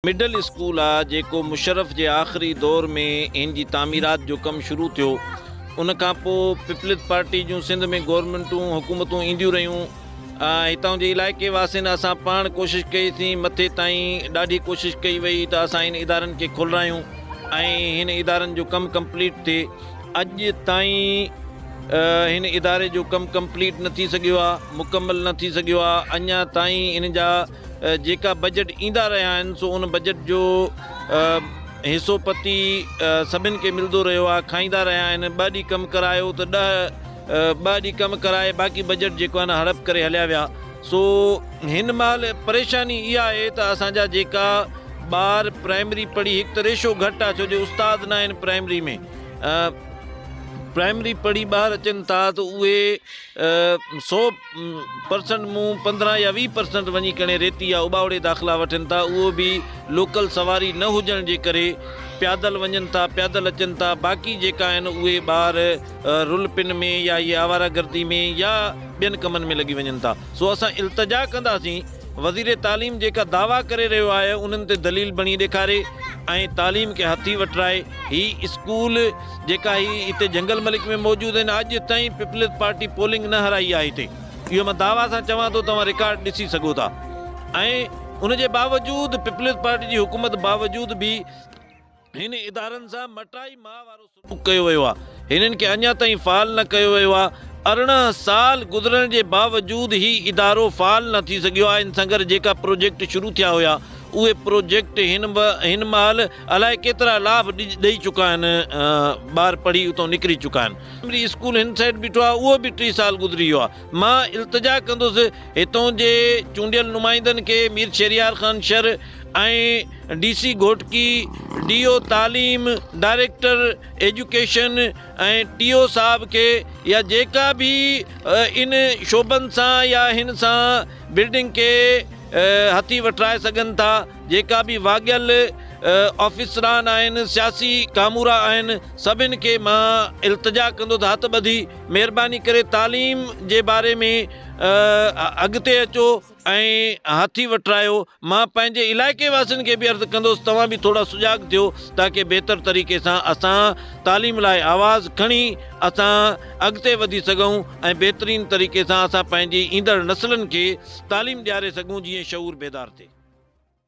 Middle school آ جيڪو مشرف جي آخري دور ۾ ان جي تعميرات جو ڪم شروع ٿيو ان کان پو پپلز پارٽي جون سنڌ ۾ گورنمينٽون حڪومتون اينديون رهيون هتان جي علائقي واسين اسان پاڻ ڪوشش ڪئي سين مٿي تائين ڏاڍي ڪوشش ڪئي وئي ته اسان ان ادارن کي کولرايون ۽ هن ادارن جو ڪم ڪمپليٽ ٿئي اڄ تائين هن اداري جو ڪم ڪمپليٽ نه ٿي سگهيو آ مڪمل نه ٿي سگهيو آ اڃا تائين ان جا جيڪا بجيٽ ايندا رهيا آهن سو ان بجيٽ جو حصو پتي سڀن کي ملدو رهيو آهي کائيندا رهيا آهن ٻه ڏينهن ڪم ڪرايو ته ڏهه ٻه ڏينهن ڪم ڪرائي باقي بجيٽ جيڪو آهي نه هڙپ ڪري هليا ويا سو هن مهل پريشاني اها آهي ته اسان جا جيڪا ٻار پرائمري پڙهي هڪ ته ريشو گهٽ آهي ڇو جو استاد نه آهن پرائمري ۾ پرائمري پڙهي ٻاهر اچن ٿا ته اهي سو پرسنٽ مون پندرهن يا ويهه پرسنٽ وڃي ڪڻي ريتي يا اٻاوڙي داخلا وٺن ٿا اهو به لوڪل سواري نه هجڻ جي ڪري پيادل وڃن ٿا پيادل اچن ٿا باقي جيڪا آهن اهي ٻار رل پن ۾ يا اهي آواره گردي ۾ يا ٻين ڪمن ۾ لڳي وڃن ٿا سو اسان التجا ڪنداسين وزير تعليم جيڪا دعويٰ ڪري رهيو آهي انهن تي دليل بڻي ڏيکاري ۽ تعليم کي هٿي وٺرائي هي اسڪول جيڪا هي هتي جنگل ملڪ ۾ موجود آهن اڄ تائين پيپلز پارٽي پولنگ نه هرائي آهي هتي اهو مان دعويٰ سان چوان ٿو توهان رڪارڊ ڏسي سگهو ٿا ۽ ان جي باوجود پيپلز پارٽي جي حڪومت باوجود به هن ادارن سان مٽائي ماء وارو سلوڪ ڪيو ويو آهي هنن کي اڃا تائين فعال نه ڪيو ويو آهي ارڙهن سال گذرڻ جي باوجود هي ادارو فعال نه ٿي سگهيو آهي ان سان گڏ جيڪا پروجيڪٽ شروع ٿيا هيا اهي پروجيڪٽ هن هن مهل الائي ڪيترا لاڀ ڏئي چڪا آهن ٻار پڙهي اتان نڪري چڪا آهن پرائمري اسڪول هن سائيڊ بيٺو آهي اهو به ٽي سال گذري ويو آهي مان التجا ڪندس هتان جي چونڊيل نمائندن کي Mir Shehryar Khan Shar ۽ D C Ghotki D O تعليم ڊائريڪٽر ايجوڪيشن ۽ ٽي او صاحب کي يا جيڪا به ان شعبن سان يا هن سان بلڊنگ کي هٿي وٺرائي سگهن ٿا جيڪا به واڳيل آفيسران آهن سياسي ڪامورا آهن سڀن کي مان التجا ڪندو ته هٿ ٻڌي مهرباني ڪري تعليم جي باري ۾ اڳتي اچو ۽ هٿي وٺرايو مان پنهنجي علائقي واسين کي به عرض ڪندوس توهان به ٿورا سجاڳ ٿيو تاڪه بهتر طريقي سان اسان تعليم لاء آواز کڻي اسان اڳتي وڌي سگهون ۽ بهترين طريقي سان اسان پنهنجي ايندڙ نسلن کي تعليم ڏياري سگهون جيئن شعور بيدار ٿئي.